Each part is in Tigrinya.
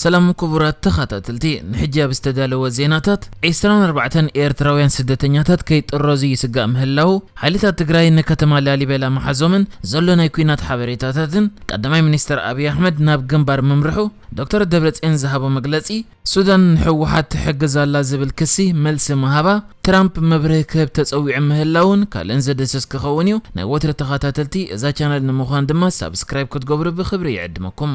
ሰላም ኩቡራት ተኻታተልቲ ንሕጂ ኣብ ዝተዳለወ ዜናታት ዕስራን ኣርባዕተን ኤርትራውያን ስደተኛታት ከይጥረዙ ይስጋእ ምህላዉ ሓይልታት ትግራይ ንከተማ ላሊበላ ምሓዞምን ዘሎ ናይ ኲናት ሓበሬታታትን ቀዳማይ ሚኒስተር ኣብይ ኣሕመድ ናብ ግንባር ምምርሑ ዶክተር ደብረጽዮን ዝሃቦ መግለጺ ሱዳን ንሕወሓት ትሕግዝ ኣላ ዝብል ክሲ መልሲ ምሃባ ትራምፕ መብርሂ ክህብ ተጸዊዑ ምህላዉን ካልእን ዝድህስስ ክኸውን እዩ ናይ ወትሪ ተኻታተልቲ እዛ ቻነል ንምዃን ድማ ሳብስክራይብ ክትገብሩ ብኽብሪ ይዕድመኩም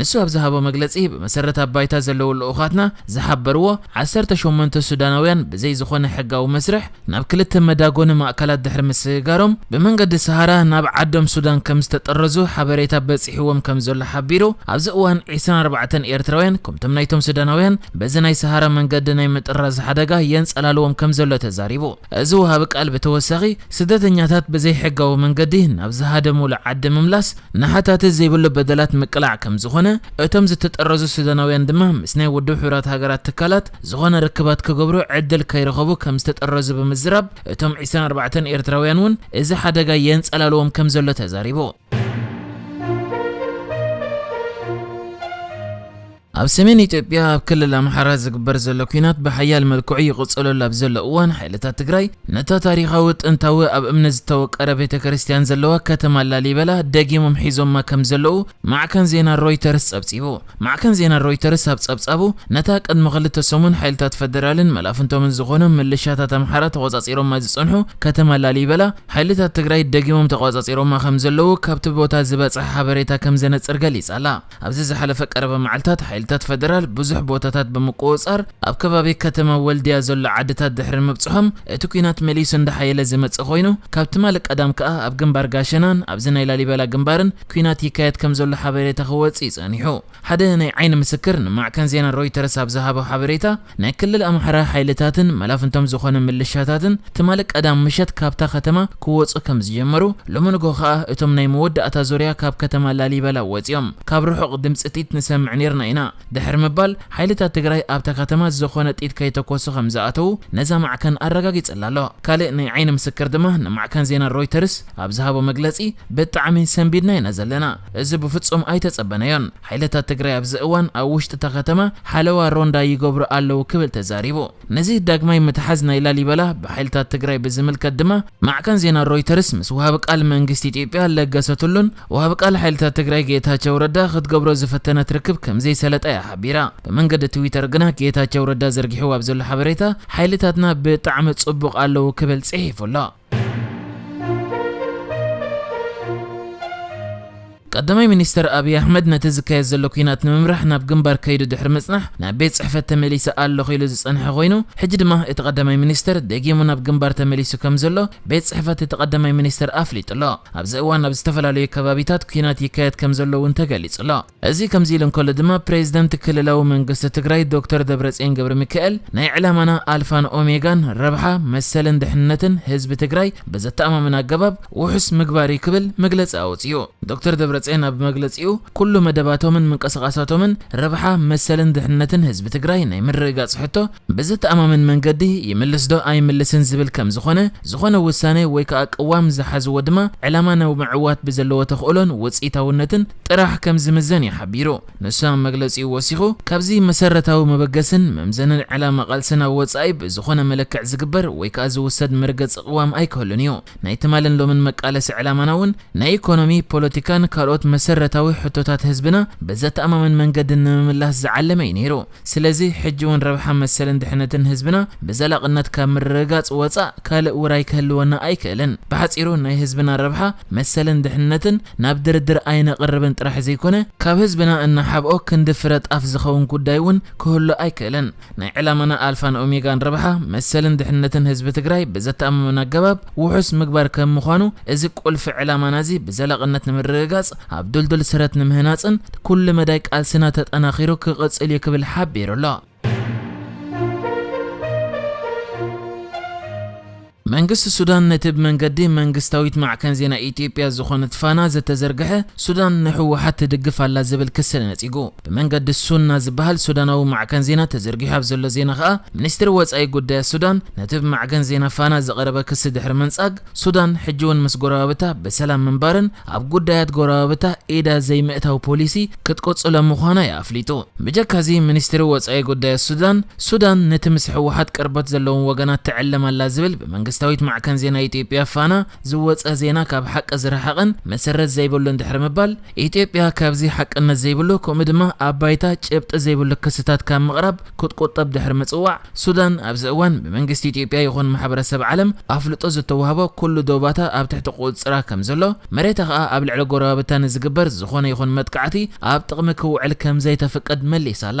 ንሱ ኣብ ዝሃቦ መግለጺ፣ ብመሰረት ኣብ ባይታ ዘለዉ ልኡኻትና ዝሓበርዎ፣ ዓሰርተ ሸሞንተ ሱዳናውያን ብዘይ ዝኾነ ሕጋዊ መስርሕ ናብ ክልተ መዳጎኒ ማእከላት ድሕሪ ምስግጋሮም፣ ብመንገዲ ሰሃራ ናብ ዓዶም ሱዳን ከም ዝተጠረዙ ሓበሬታ በጺሕዎም ከም ዘሎ ሓቢሩ፣ ኣብዚ እዋን ዕስራን ኣርባዕተን ኤርትራውያን ከምቶም ናይቶም ሱዳናውያን በዚ ናይ ሰሃራ መንገዲ ናይ ምጥራዝ ሓደጋ የንጸላልዎም ከም ዘሎ ተዛሪቡ። እዚ ወሃቢ ቃል ብተወሳኺ፣ ስደተኛታት ብዘይ ሕጋዊ መንገዲ ናብ ዝሃደሙሉ ዓዲ ምምላስ፣ ንሓታቲ ዘይብሉ በደላት ምቅላዕ ከም ዝኾነ፣ እቶም ዝተጠረዙ ሱዳናውያን ድማ ምስ ናይ ውድብ ሕቡራት ሃገራት ትካላት ዝኾነ ርክባት ክገብሩ ዕድል ከይረኸቡ ከም ዝተጠረዙ ብምዝራብ፣ እቶም ዕስራን ኣርባዕተን ኤርትራውያን እውን እዚ ሓደጋ የንጸላልዎም ከም ዘሎ ተዛሪቡ። ኣብ ሰሜን ኢትዮጵያ ኣብ ክልል ኣምሓራ ዝግበር ዘሎ ኲናት ብሓያል መልክዑ ይቕጽለሉ ኣብ ዘሎ እዋን ሓይልታት ትግራይ ነታ ታሪኻዊ ጥንታዊ ኣብ እምኒ ዝተወቀረ ቤተ ክርስቲያን ዘለዋ ከተማ ላሊበላ ደጊሞም ሒዞማ ከም ዘለዉ ማዕከን ዜና ሮይተርስ ጸብጺቡ። ማዕከን ዜና ሮይተርስ ኣብ ጸብጻቡ ነታ ቅድሚ ክልተ ሰሙን ሓይልታት ፈደራልን መላፍንቶምን ዝኾኖም ምልሻታት ኣምሓራ ተቖጻጺሮማ ዝጸንሑ ከተማ ላሊበላ ሓይልታት ትግራይ ደጊሞም ተቖጻጺሮማ ከም ዘለዉ ካብቲ ቦታ ዝበጽሐ ሓበሬታ ከም ዘነጽር ገሊጻ ኣላ። ኣብዚ ዝሓለፈ ቀረባ መዓልታት ሓይልታት ፈደራል ብዙሕ ቦታታት ብምቁውጻር ኣብ ከባቢ ከተማ ወልድያ ዘሎ ዓድታት ድሕሪ ምብጽሖም እቲ ኲናት መሊሱ እንዳሓየለ ዝመጽእ ኮይኑ ካብ ትማሊ ቀዳም ከኣ ኣብ ግንባር ጋሸናን ኣብዚ ናይ ላሊበላ ግንባርን ኲናት ይካየድ ከምዘሎ ሓበሬታ ክወጽእ ዩ ጸኒሑ። ሓደ ናይ ዓይኒ ምስክር ንማዕከን ዜና ሮይተርስ ኣብ ዝሃቦ ሓበሬታ ናይ ክልል ኣምሓራ ሓይልታትን መላፍንቶም ዝኾኑ ምልሻታትን ትማሊ ቀዳም ምሸት ካብታ ከተማ ክወጹ ከም ዝጀመሩ፣ ሎሚ ንግሆ ከኣ እቶም ናይ መወዳእታ ዙርያ ካብ ከተማ ላሊበላ ወጺኦም ካብ ርሑቕ ድምጺ ጥይት ንሰምዕ ኔርና ኢና ድሕሪ ምባል ሓይልታት ትግራይ ኣብታ ከተማ ዝኾነ ጥይት ከይተኮሱ ከም ዝኣተዉ ነዛ ማዕከን ኣረጋጊጽላ ኣሎ። ካልእ ናይ ዓይኒ ምስክር ድማ ንማዕከን ዜና ሮይተርስ ኣብ ዝሃቦ መግለጺ ብጣዕሚ ሰንቢድና ኢና ዘለና እዚ ብፍጹም ኣይተጸበናዮን። ሓይልታት ትግራይ ኣብዚ እዋን ኣብ ውሽጢ እታ ከተማ ሓለዋ፣ ሮንዳ፣ ይገብሩ ኣለዉ ክብል ተዛሪቡ። ነዚ ዳግማይ ምትሓዝ ናይ ላሊበላ ብሓይልታት ትግራይ ብዝምልከት ድማ ማዕከን ዜና ሮይተርስ ምስ ወሃቢ ቃል መንግስቲ ኢትዮጵያ ለገሰ ቱሉን ወሃቢ ቃል ሓይልታት ትግራይ ጌታቸው ረዳ ክትገብሮ ዝፈተነት ርክብ ከምዘይሰለጣ እያ ሓቢራ። ብመንገዲ ትዊተር ግና ጌታቸው ረዳ ዘርጊሕዎ ኣብ ዘሎ ሓበሬታ ሓይልታትና ብጣዕሚ ጽቡቕ ኣለዉ ክብል ጽሒፉ ኣሎ። ቀዳማይ ሚኒስተር ኣብይ ኣሕመድ ነቲ ዝካየድ ዘሎ ኲናት ንምምራሕ ናብ ግንባር ከይዱ ድሕሪ ምጽናሕ ናብ ቤት ጽሕፈት ተመሊሰ ኣለኹ ኢሉ ዝጸንሐ ኮይኑ ሕጂ ድማ እቲ ቀዳማይ ሚኒስተር ደጊሙ ናብ ግንባር ተመሊሱ ከም ዘሎ ቤት ጽሕፈት እቲ ቀዳማይ ሚኒስተር ኣፍሊጡ'ሎ። ኣብዚ እዋን ኣብ ዝተፈላለዩ ከባቢታት ኲናት ይካየድ ከም ዘሎ'ውን ተገሊጹ'ሎ። እዚ ከምዚ ኢሉ እንከሎ ድማ ፕሬዝደንት ክልላዊ መንግስቲ ትግራይ ዶክተር ደብረፅዮን ገብረሚካኤል ናይ ዕላማና ኣልፋን ኦሜጋን ረብሓ፣ መሰልን ድሕንነትን ህዝቢ ትግራይ ብዘተኣማምን ኣገባብ ውሑስ ምግባር እዩ ክብል መግለፂ ኣውፂኡ። ዶክተር ደብረፅዮን ኣብ መግለፂኡ ኩሉ መደባቶምን ምንቅስቓሳቶምን ረብሓ፣ መሰልን ድሕንነትን ህዝቢ ትግራይ ናይ ምርግጋፅ ሕቶ ብዘተኣማምን መንገዲ ይምልስ ዶ ኣይምልስን ዝብል ከምዝኾነ፣ ዝኾነ ውሳነ ወይ ከዓ ቅዋም ዝሓዝዎ ድማ ዕላማ ንምምዕዋት ብዘለዎ ተኽእሎን ውፅኢታውነትን ጥራሕ ከም ዝምዘን እዩ ሓቢሩ። ንሱ ኣብ መግለጺኡ ወሲኹ፣ ካብዚ መሰረታዊ መበገስን መምዘንን ዕላማ ቃልስና ወጻኢ ብዝኾነ መለክዕ ዝግበር ወይ ከኣ ዝውሰድ መርገጺ ቅዋም ኣይክህሉን እዩ። ናይ ትማልን ሎምን መቃለሲ ዕላማና እውን ናይ ኢኮኖሚ፣ ፖለቲካን ካልኦት መሰረታዊ ሕቶታት ህዝብና ብዘተኣማምን መንገዲ ንምምላስ ዝዓለመ እዩ ነይሩ። ስለዚ ሕጂ ውን ረብሓ መሰልን ድሕነትን ህዝብና ብዘላቕነት ካብ ምርግጋጽ ወጻእ ካልእ ውራይ ክህልወና ኣይክእልን። ብሓጺሩ ናይ ህዝብና ረብሓ መሰልን ድሕነትን ናብ ድርድር ኣይነቕርብን ጥራሕ ዘይኮነ፣ ካብ ህዝብና እንሓብኦ ክንዲ ፍረ ጣፍ ዝኸውን ጉዳይ ውን ክህሉ ኣይክእልን። ናይ ዕላማና ኣልፋን ኦሜጋን ረብሓ መሰልን ድሕነትን ህዝቢ ትግራይ ብዘተኣማምን ኣገባብ ውሑስ ምግባር ከም ምዃኑ እዚ ቁልፊ ዕላማናዚ ብዘላቕነት ንምርግጋጽ ኣብ ድልዱል ስረት ንምህናፅን ኩሉ መዳይ ቃልስና ተጠናኺሩ ክቕፅል ዩ ክብል ሓቢሩ ኣሎ። መንግስቲ ሱዳን ነቲ ብመንገዲ መንግስታዊት ማዕከን ዜና ኢትዮጵያ ዝኾነት ፋና ዝተዘርግሐ ሱዳን ንህወሓት ትድግፍ ኣላ ዝብል ክሲ ነፂጉ ብመንገዲ ሱና ዝበሃል ሱዳናዊ ማዕከን ዜና ተዘርጊሑ ኣብ ዘሎ ዜና ከኣ ሚኒስትሪ ወፃኢ ጉዳያት ሱዳን ነቲ ብማዕከን ዜና ፋና ዝቐረበ ክሲ ድሕሪ ምንጻግ ሱዳን ሕጂ'ውን ምስ ጎረባብታ ብሰላም ምንባርን ኣብ ጉዳያት ጎረባብታ ኢዳ ዘይምእታው ፖሊሲ ክትቅጽሎ ምዃና'ዩ ኣፍሊጡ። ብጀካ'ዚ ሚኒስትሪ ወጻኢ ጉዳያት ሱዳን፣ ሱዳን ነቲ ምስ ህወሓት ቅርበት ዘለዎም ወገናት ትዕልም ኣላ ዝብል ብመንግስታዊት ማዕከን ዜና ኢትዮጵያ ፋና ዝወጸ ዜና ካብ ሓቂ ዝረሓቐን መሰረት ዘይብሉን ድሕሪ ምባል፣ ኢትዮጵያ ካብዚ ሓቅነት ዘይብሉ ከምኡ ድማ ኣብ ባይታ ጭብጢ ዘይብሉ ክስታት ካብ ምቕራብ ክትቁጠብ ድሕሪ ምጽዋዕ፣ ሱዳን ኣብዚ እዋን ብመንግስቲ ኢትዮጵያ ይኹን ማሕበረሰብ ዓለም ኣፍልጦ ዝተዋህቦ ኩሉ ዶባታ ኣብ ትሕቲ ቁጽጽራ ከምዘሎ፣ መሬታ ከኣ ኣብ ልዕሊ ጎረባብታ ንዝግበር ዝኾነ ይኹን መጥቃዕቲ ኣብ ጥቕሚ ክውዕል ከምዘይተፍቅድ መሊሳ'ላ።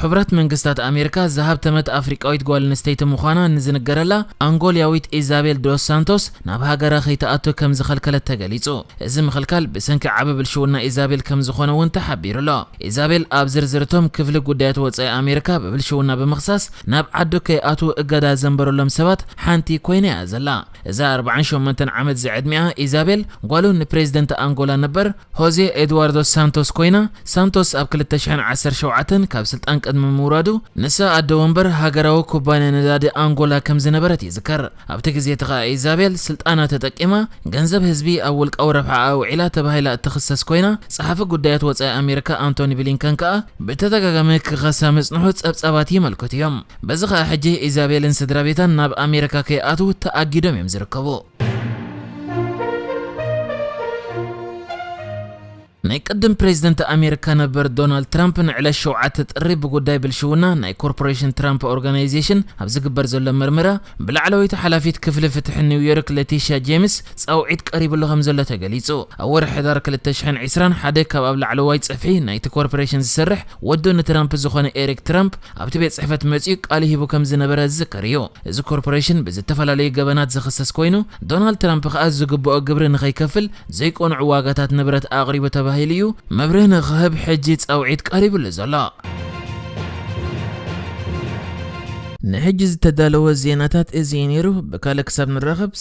ሕቡራት መንግስታት ኣሜሪካ ዝሃብተመት ኣፍሪቃዊት ጓል ኣንስተይቲ ምዃና ንዝንገረላ ኣንጎልያዊት ኢዛቤል ዶስ ሳንቶስ ናብ ሃገራ ከይትኣቱ ከም ዝኸልከለት ተገሊጹ። እዚ ምኽልካል ብሰንኪ ዓቢ ብልሽውና ኢዛቤል ከም ዝኾነ'ውን ተሓቢሩ'ሎ። ኢዛቤል ኣብ ዝርዝር እቶም ክፍሊ ጉዳያት ወጻኢ ኣሜሪካ ብብልሽውና ብምኽሳስ ናብ ዓዱ ከይኣትዉ እገዳ ዘንበረሎም ሰባት ሓንቲ ኮይና'ያ ዘላ። እዛ ኣርብዓን ሸሞንተን ዓመት ዝዕድሚኣ ኢዛቤል ጓሉ ንፕሬዚደንት ኣንጎላ ነበር ሆዜ ኤድዋርዶ ሳንቶስ ኮይና፣ ሳንቶስ ኣብ ክልተ ሽሕን ዓሰርተ ሸውዓተን ካብ ስልጣን ቅድሚ ምውራዱ፣ ንሳ ኣደ ወንበር ሃገራዊ ኩባንያ ነዳዲ ኣንጎላ ከም ዝነበረት ይዝከር። ኣብቲ ግዜ'ቲ ከኣ ኢዛቤል ስልጣና ተጠቂማ ገንዘብ ህዝቢ ኣብ ውልቃዊ ረብሓኣ ኣውዒላ ተባሂላ እትኽሰስ ኮይና፣ ጸሓፊ ጉዳያት ወጻኢ ኣሜሪካ ኣንቶኒ ብሊንከን ከኣ፣ ብተደጋጋሚ ክኸሳ ምጽንሑ ጸብጻባት የመልክቱ እዮም። በዚ ከኣ ሕጂ ኢዛቤልን ስድራቤታን ናብ ኣሜሪካ ከይኣትው ተኣጊዶም እዮም ዝርከቡ። ናይ ቅድም ፕሬዝደንት ኣሜሪካ ነበር ዶናልድ ትራምፕ ንዕለት ሸውዓተ ጥሪ ብጉዳይ ብልሽውና ናይ ኮርፖሬሽን ትራምፕ ኦርጋናይዜሽን ኣብ ዝግበር ዘሎ መርመራ ብላዕለወይቲ ሓላፊት ክፍሊ ፍትሒ ኒው ዮርክ ለቲሽያ ጄምስ ፃውዒት ቀሪብሉ ከምዘሎ ተገሊፁ። ኣብ ወርሒ ሕዳር ክልተ ሽሕን ዕስራን ሓደ ካብ ኣብ ላዕለዋይ ፅፍሒ ናይቲ ኮርፖሬሽን ዝሰርሕ ወዱ ንትራምፕ ዝኾነ ኤሪክ ትራምፕ ኣብቲ ቤት ጽሕፈት መጺኡ ቃሉ ሂቡ ከም ዝነበረ ዝዝከር እዩ። እዚ ኮርፖሬሽን ብዝተፈላለዩ ገበናት ዝኽሰስ ኮይኑ፣ ዶናልድ ትራምፕ ከኣ ዝግብኦ ግብሪ ንኸይከፍል ዘይቅኑዕ ዋጋታት ንብረት ኣቕሪቡ ተባሂሉ እዩ መብርሂ ንኽህብ ሕጂ ጻውዒት ቀሪብሉ ዘሎ። ንሕጂ ዝተዳለወ ዜናታት እዚ እዩ ነይሩ። ብካልእ ክሳብ ንራኸብ!